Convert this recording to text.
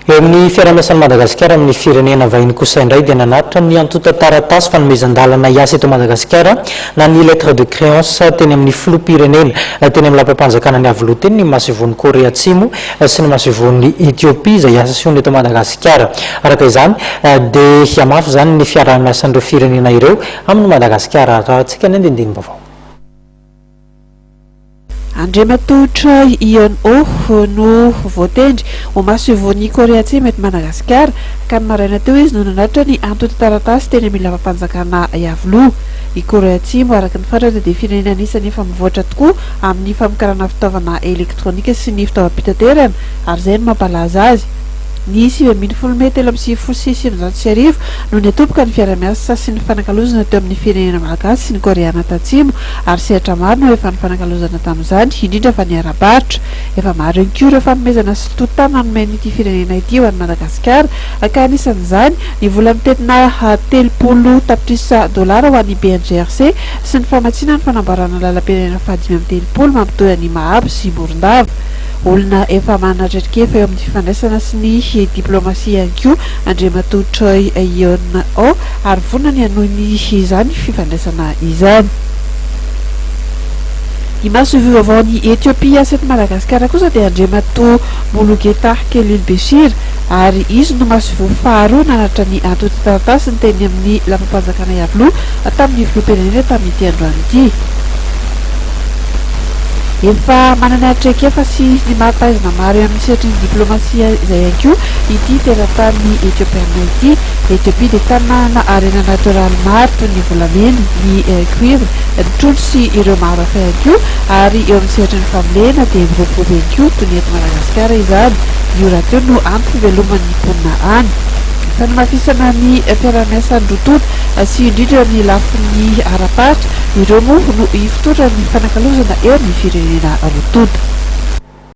Eo amin'ny fiaraha-miasan'i Madagasikara amin'ny firenena vahiny kosa indray dia nanatitra ny antontan-taratasy fanomezan-dalana hiasa eto Madagasikara na ny lettre de créance teny amin'ny filoham-pirenena teny amin'ny lapam-panjakana niavoloha teny ny Masoivohon'i Korea Atsimo sy ny Masoivohon'i Ethiopie izay hiasa sy hony eto Madagasikara. Araka izany dia hihamafy izany ny fiaraha-miasan'ireo firenena ireo amin'i Madagasikara. Arahantsika ny andinindinim-baovao. Andriamatoa Choi Ion-oh no voatendry ho masoivohon'i Korea Atsimo eto Madagasikara ka ny maraina teo izy no nanatitra ny antontan-taratasy teny amin'ny lapa-panjakana Iavoloha. I Korea Atsimo, araka ny fantratra, dia firenena anisan'ny efa mivoatra tokoa amin'ny famokarana fitaovana elektronika sy ny fitaovam-pitaterana ary izay no mampalaza azy. Ny sivy ambin'ny folo mey telo amby sivifolo sy sivinjato sy arivo no niatoboka ny fiarahamiasa sy nifanakalozana teo amin'ny firenena malagasy sy ny Koreana Tatsimo ary sehatra maro no efa nifanakalozana tamin'izany, indrindra fa ny ara-barotra. Efa maro ihany koa ireo fanomezana silototana nomen'ity firenena ity ho an'i Madagasikara, ka anisan'izany ny vola mitentina telopolo tapitrisa dolara ho an'ny BNGRC sy ny famatsiana ny fanamboarana lalam-pirenena fahadimy amby telopolo mampitohy an'i Mahabo sy Morondava. Olona efa manana traikefa eo amin'ny fifandraisana sy ny diplaomasia ihany koa Andriamatoa Choi Eun-ho ary vonona ny hanohy ny izany fifandraisana izany. Ny masoivohivavaon'i Ethiopia sy eto Madagasikara kosa dia Andriamatoa Mulugetah Kelilbeshir ary izy no masoivoho faharoa nanatitra ny antontan-taratasiny teny amin'ny Lapam-panjakana Iavoloha tamin'ny Filoham-pirenena tamin'ity androany ity. Efa manana traikefa sy ny maha-mpahaizina maro eo amin'ny sehatry ny diplaomasia izay ihany koa ity teratany Etiopiana ity. Etiopia dia tany manana harena natoraly maro toy ny volamena, ny cuivre, ny trondro sy ireo maro hafa ihany koa ary eo amin'ny sehatry ny fambolena dia miroborobo ihany koa toy ny eto Madagasikara izany. Io rahateo no antom-piveloman'ny mponina any. Fanamafisana ny fiaraha-miasan'ny roa tonta. sy indrindra ny lafiny ara-pahatra, ireo moa no ifotoran'ny fanakalozana eo amin'ny firenena roa tonta.